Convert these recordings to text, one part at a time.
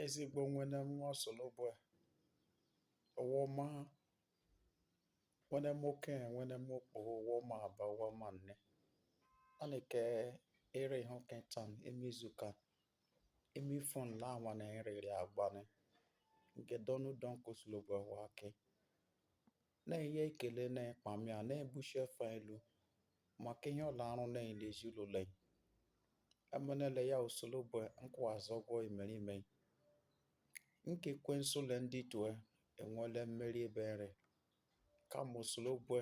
Ezigbo nwene m nwa Osolobue ọ wọ ma nwene m okenye nwene m okpoho ọ wọ ma aba ọ wọ ma nne. Anị ke ere ihe oke tan ime izuka ime ifọn la anwa na eriri agba ni nke donu don ke Osolobue wake. Na-enye ekele na ịkpamị a na-ebuchi efe elu maka ihe ọ la arụ na-enye ezinụlọ anyị. Emenele ya Osolobue nkwụazụ ọgwọ imerime. Nke Ekwensu le ndị tue enwele mmeri ebe nre. Kama Osolobue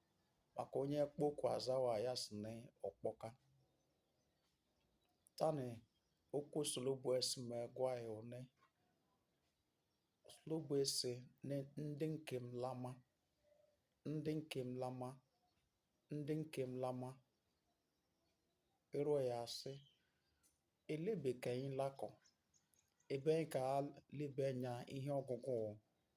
maka onye kpọkwa azawa ya sị na ọ kpọka tani okwu Osolobue sị m gwa ya one Osolobue sị na ndị nke m lama ndị nke m lama ndị nke m lama ịrọ ya asị elebe ka anyị lakọ ebe anyị ka lebe anya ihe ọgụgụ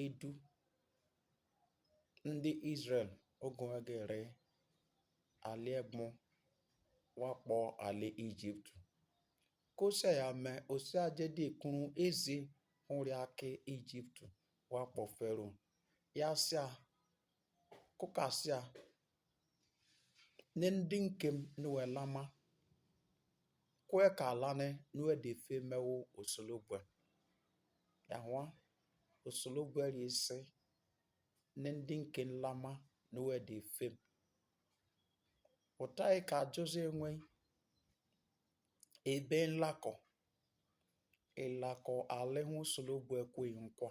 edu ndị Izrel oge ọ ga-ere ala ebe wakpo ala Ijipt. Kosa ya mee osi ajedi kụrụ ezi nri aka Ijipt wakpo Fero ya sịa kụkasịa ne ndị nke m ne wɛ lama ko yɛ kaa lane ne wɛ de feemɛ wo o solo gbɛ ya ho wa o solo gbɛ yɛ se ne de nke n lama ne wɛ de fem o ta yɛ kaa Jose ŋwɛ e bee la kɔ e la kɔ ale ho solo gbɛ ko e nkwa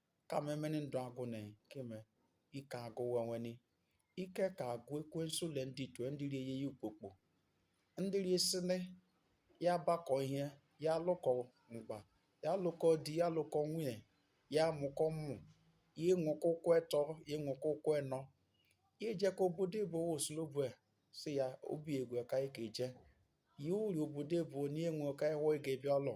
kama emeni ndụ agwụ na keme ike agwụ we nweni ike ka agwa Ekwensu le ndị tue ndị rie ihe ukpokpo ndị rie sị nị ya bakọ ihe ya lụkọ mgba ya lụkọ di ya lụkọ nwunye ya mụkọ ụmụ ya enwekọ ụkwụ etọ ya enwekọ ụkwụ enọ ya ejekọ obodo oyibo Osolobue sị ya obi egwe ka ike eje ya uri obodo oyibo onye enwe ka ewe ga-ebịa ọlọ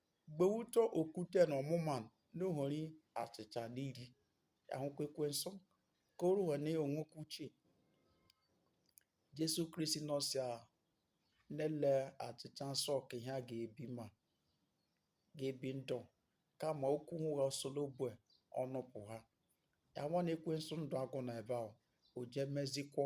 Gbehutọ okwute na ọmụma n'ohori achịcha n'iri ahụkwa ekwensu ka o ruo na onwekwa uche Jesu Kristi nọ sị a n'ele achịcha nsọ ka ihian ga-ebi ma ga-ebi ndụ kama okwu hụ gha Osolobue ọnụ pụha ya nwa na ekwensu ndụ agwụ na ebe ahụ o jee mezikwọ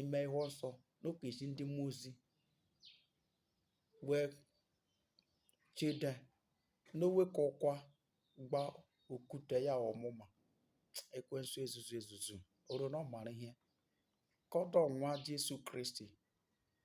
ime ihe nsọ n'ọ ke zi ndị mmụọ ozi wee chede n'owekọkwa gba okwute ya ọmụma ekwensu ezuzu ezuzu o ro na ọ mara ihe kọdọ nwa Jesu Kristi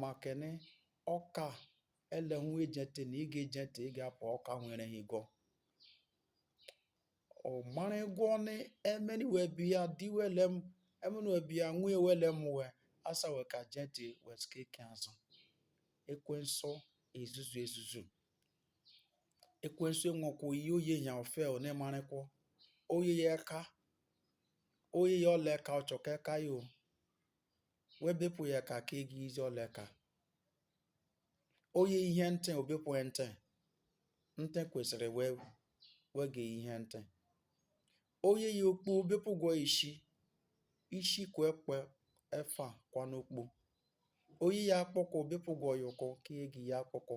Makeni ọka ele hụ e ge ntị na ị ga ege ntị ị ga apụ ọka nwere ha igọ. Ọ mara egwọ ni emeni we bịa di wele m emeni we bịa nwunye wele m we asa we ka ge ntị we sika eke azụ. Ekwensu ezuzu ezuzu. Ekwensu enwekwa oyiyi o ye ihian ofe ọ nemara ekwọ. O ye ya eka, o ye ya ọla eka ọ chọ ka eka ya o. we bepụ ya eka ke egi izi ọla eka o ye ihe ntị o bepụ ntị ntị kwesịrị wee wege ihe ntị o ye ya okpu o bepụgwọ isi isi kwe kwe efa kwa n'okpu o ye ya akpụkpọ o bepụgwọ ya ụkwụ ke egi ya akpụkpọ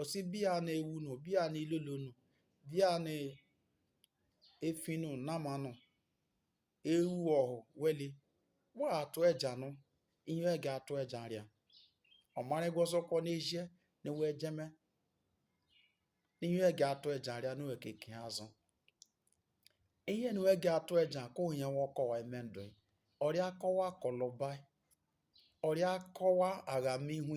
Ọ sị bịa na ewu nụ, bịa na ilolo nụ, bịa na efi nụ nama nụ, ewu ọhụ weli, wa atụ eja nụ, ihe we gi atụ eja rịa. Ọ marịgwọ ụzọ kwọ n'ezie na we ejeme, ihe we gi atụ eja rịa nụ eke ke azụ. Ihe ni we gi atụ eja kụ ihe wọ kọwa eme ndụ e. Ọ rịa kọwa kọlọba, ọ rịa kọwa agham ihu,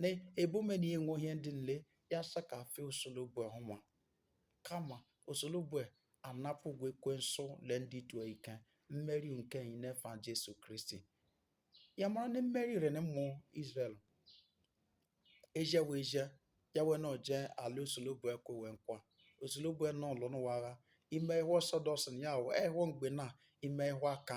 na ebume na enwe ihe ndị nle ya sị ka efe Osolobue ọhụma kama Osolobue anapụgwọ ekwensu le ndị otu a ike mmeri nke anyị n'efa Jesu Kristi ya mara na mmeri rị ni ụmụ Israel eje wee je ya wee na o je ala Osolobue kwe we nkwa Osolobue nọ lụ ni wa agha ime ihe ọsọ dọsị ya ahụ ehụ mgbe na ime ihe aka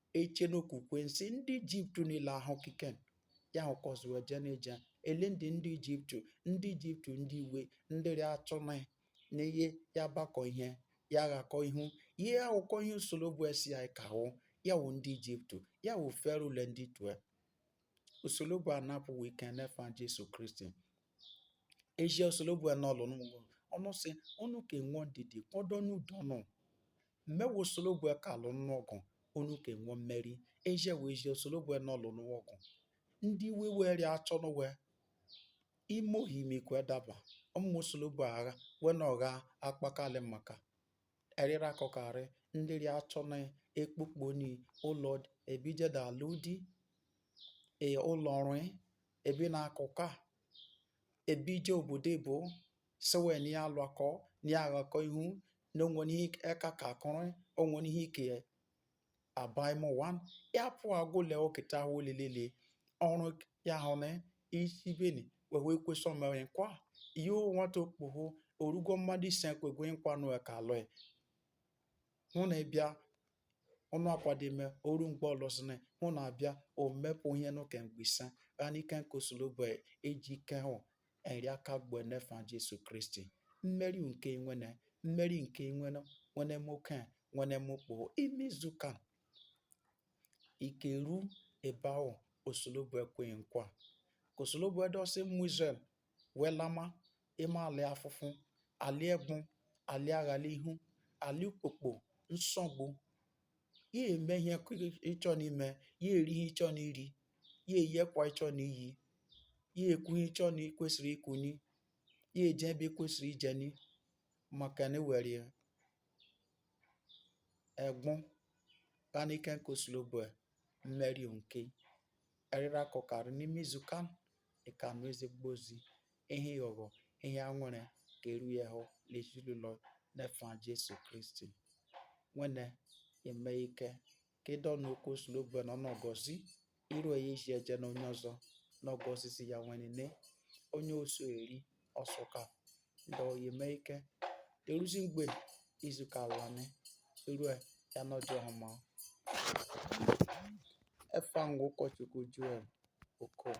eche n'okwukwe nsị ndị ijipt niile ahụ kike ya hụkọzị we eje n'eje ele ndị ndị ijipt ndị ijipt ndị iwe ndị rị achọ ni i ya bakọ ihe ya ghakọ ihu i ya awụkọ ihe osolobue sị ya ka awụ ya wụ ndị ijipt ya wụ fero le ndị otu e osolobue anapụ we ike n'efa jesu kristi eji osolobue nọ lụ n'ụlọ ọnụ sị ọnụ ka enwe ndidi kpọdọ n'udo nụ Mme wụ Osolobue ka alụ nụ ọgụ, unu ka enwe mmeri. Eje wee je Osolobue nọ lụ ni we ọgụ. Ndị iwe we rị achụ ni we ime ohimi kwe daba. Ụmụ Osolobue agha we na ọgha akpakarị maka. Erịra akọkarị ndị rị achọ na ekpokpo ni ụlọ ebije da alụ di. E ụlọ ọrụ ebi na akụka ebije obodo ebo sị wee na ya alụakọ na ya aghakọ ihu na o nwere ihe eka ka akụrụ o nwere ihe ike abaimụwa ya pụ agụle oketa ahụ olilele ọrụ ya hụ na isi beni wee wee kwesị omewe nkwa ihe nwata okpogho o rugo mmadụ ise kwegwe nkwa nụ ka alụ e hụ na ịbịa ọnụ akwa dị ime o ru mgbe ọlụsịnị hụ na abịa o mepụ ihe n'ụka mgbe ise ha n'ike nke Osolobue eji ike hụ eri aka gbu e n'efa Jesu Kristi mmeri nke nwene mmeri nke nwene nwene m oke nwene m okpoho ime izu ka i ka eru ebe ahụ Osolobue kwe i nkwa ka Osolobue dusi ụmụ Izrel wee lama ema alị afụfụ, alị egbụ, alị aghalihu, alị ukpokpo, nsogbu. Ya eme ihe ị chọọ n'ime, ya eri ihe ị chọọ n'iri, ya eyi ekwa ị chọọ n'iyi, ya ekwu ihe ị chọọ na ị kwesịrị ikwu ni, ya eje ebe ị kwesịrị ije ni makeni e weri egbụ ghanị ike nke Osolobue mmeri nke. Eriri akọkarị n'ime izuka nị, ị ka nụ ezigbo ozi. ihe ịghọghọ ihe anwụrị ka eru ehụ n'ezinụlọ n'efa Jesu Kristi nwene eme ike ka ị dọn okwu Osolobue na ọ nọ gọzi iru ya isi eje na onye ọzọ nọ gọzizi ya nwene onye oso eri ọsụka ndị oyi eme ike deruzi mgbe izuka ala nị eru ya nọdị ọhụma efa m wụ ụkọchukwu Joel Okoh